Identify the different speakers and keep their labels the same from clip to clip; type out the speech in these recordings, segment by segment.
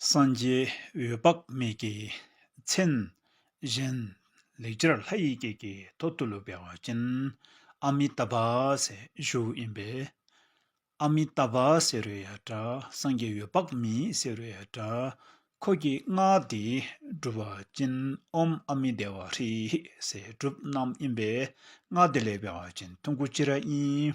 Speaker 1: སངས་རྒྱས་འོད་དཔག་མེད་ཀྱི་མཚན། གཞན། ལེགས་སྦྱར་ལྷ་ཡི་སྐད་ཀྱི་ཐོག་ཏུ་ལུས་པའི་བ་ཅན། ཨ་མི་ཏཱ་བྷཱུ་ཞུགས་ཡིན་པས། ཨ་མི་ཏཱ་བྷཱུ་ཟེར་བའི་ཡ་སྒྲ་སངས་རྒྱས་འོད་དཔག་མེད་ཟེར་བའི་ཡ་སྒྲ། འཁོར་གྱི་སྔགས་འདི་སྒྲུབ་བ་ཅན་ཨོམ་ཨ་མི་བདེ་བ་ཧྲི་ཧི་ཟེར་སྒྲུབ་རྣམས་ཡིན་པས་སྔགས་འདི་ལེགས་པའི་བ་ཅན་ཐུན་དགུ་སྤྱི་ར་ཡིན།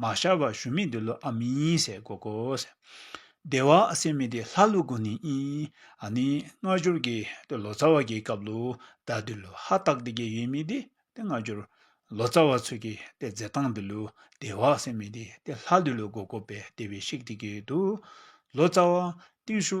Speaker 1: མ་ཤར་བར་ཞུམ་མེད་འདི་ལོ་ཨ་མི་ཡིན་ཟེར་གོ་གོ། སྡེ་བ་སེར་མི་དེ་ལྷ་ཀླུ་དགོན་ནས་ཨིན། ཨ་ནི་སྔ་འགྱུར་གྱི་དེ་ལོ་ཙཱ་བ་གྱི་སྐབས་ལོ་ཟླ་འདི་ལོ་ཧ་ཏག་དེ་གའི་ཡུལ་མི་དེ་དེ་སྔ་འགྱུར། ལོ་ཙཱ་བ་ཚོས་ཀྱི་དེ་མཛད་སྟངས་འདི་ལོ་སྡེ་བ་སེར་མི་དེ་དེ་ལྷ་འདི་ལོ་གོ་གོ་པའི་སྡེ་བའི་ཤིག་དེ་གའི་དུ། ལོ་ཙཱ་བ། ཏིང་ཤུ།